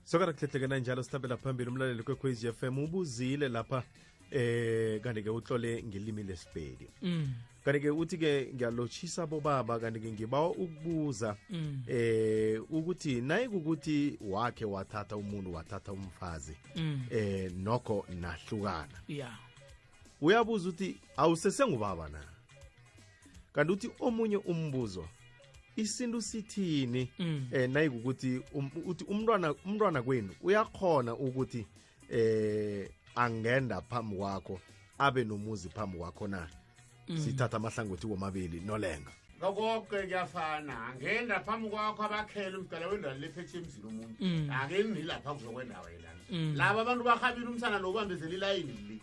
sokana kuhlehlekena njalo sihlabela phambili umlaleli kwekhwez f m ubuzile lapha eh kanti-ke utlole ngelimi lesipedi mm. kanti-ke uthi-ke ngiyalotshisa bobaba kanti-ke ngibawa ukubuza mm. eh ukuthi naye kukuthi wakhe wathatha umuntu wathatha umfazi mm. eh nokho nahlukana yeah uyabuza ukuthi awusesengubaba na kanti uthi omunye umbuzo isintu sithini mm. eh nayikukuthi um, uthi umntwana umntwana kwenu uyakhona ukuthi eh angenda phambi kwakho abe nomuzi phambi kwakho na mm. sithatha amahlangothi womabili nolenga lokoke kuyafana ngenda phambi kwakho abakhele umdala wendawo lephethe emzini omuntu mm. ake ngilapha kuzokwendawo yelana mm. laba abantu bahabile umsana lo ubambezela ilayini li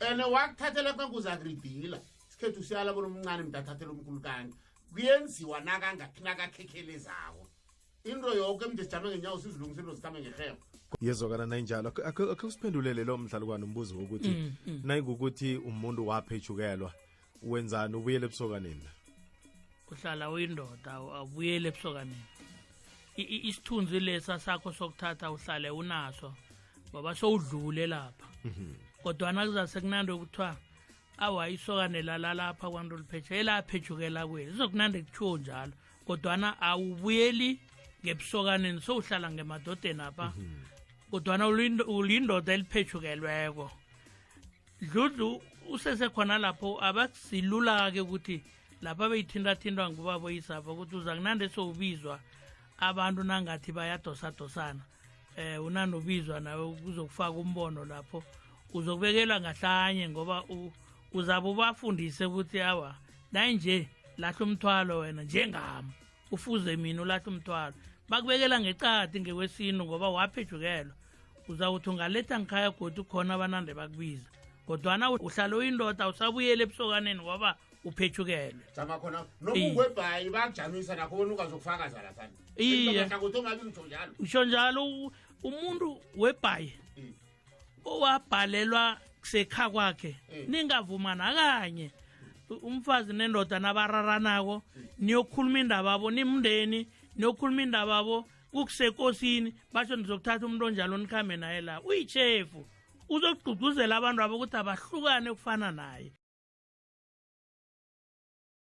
ene wakuthathela kanti uzakuridila isikhethu siyala bona omncane mntu athathela omkhulu kanti kuyenziwa nakangaphi nakakhekhelezako into yoke mntu sijame ngenyawo sizilungisa into zikhambe ngerhebo yezokana nayinjalo akhe usiphendulele lo mdlalukwana umbuzo wokuthi mm, mm. nayikukuthi umuntu waphethukelwa wenzani ubuyele ebusokaneni la uhlala uyindoda abuyele ebusokaneni isithunzi lesa sakho sokuthatha uhlale unaso ngoba sowudlule lapha mhm. kodwana kuzase kunandi okuthiwa awa isokane lalalapha kwanto oliphethe elaphetshukela kweli izokunandi kuthiwo njalo kodwana awubuyeli ngebusokaneni sowuhlala ngemadodeni apha mhm. kodwana ulindoda eliphethukelweko dludlu usesekhona lapho abasilula-ke ukuthi lapha beyithintathintwa ngubabo isapha ukuthi uza kunande sowubizwa abantu nangathi bayadosadosana eh unanobizwa nawe kuzokufaka umbono lapho uzokubekelwa ngahlanye ngoba uzabe ubafundise ukuthi awa nayinje lahla umthwalo wena njengami ufuze mina ulahle umthwalo bakubekela ngecadi ngekwesintu ngoba waphejukelwa uzawuthi ungaletha ngikhaya godi khona abanande bakubiza kodwana uhlale uyindoda usabuyele ebusokaneni ngoba uphethukelwe jama khona nokungwebhayi bakujamisa nakho bona ungazokufakaza laphana iye usho njalo umuntu webhayi owabhalelwa sekha kwakhe mm. ningavuma nakanye umfazi nendoda nabararanako niyokhuluma indaba abo nimndeni niyokhuluma indaba abo kukusekosini basho nizokuthatha umuntu onjalo nikhambe naye la uyichefu uzogqugquzela abantu abo ukuthi abahlukane ukufana naye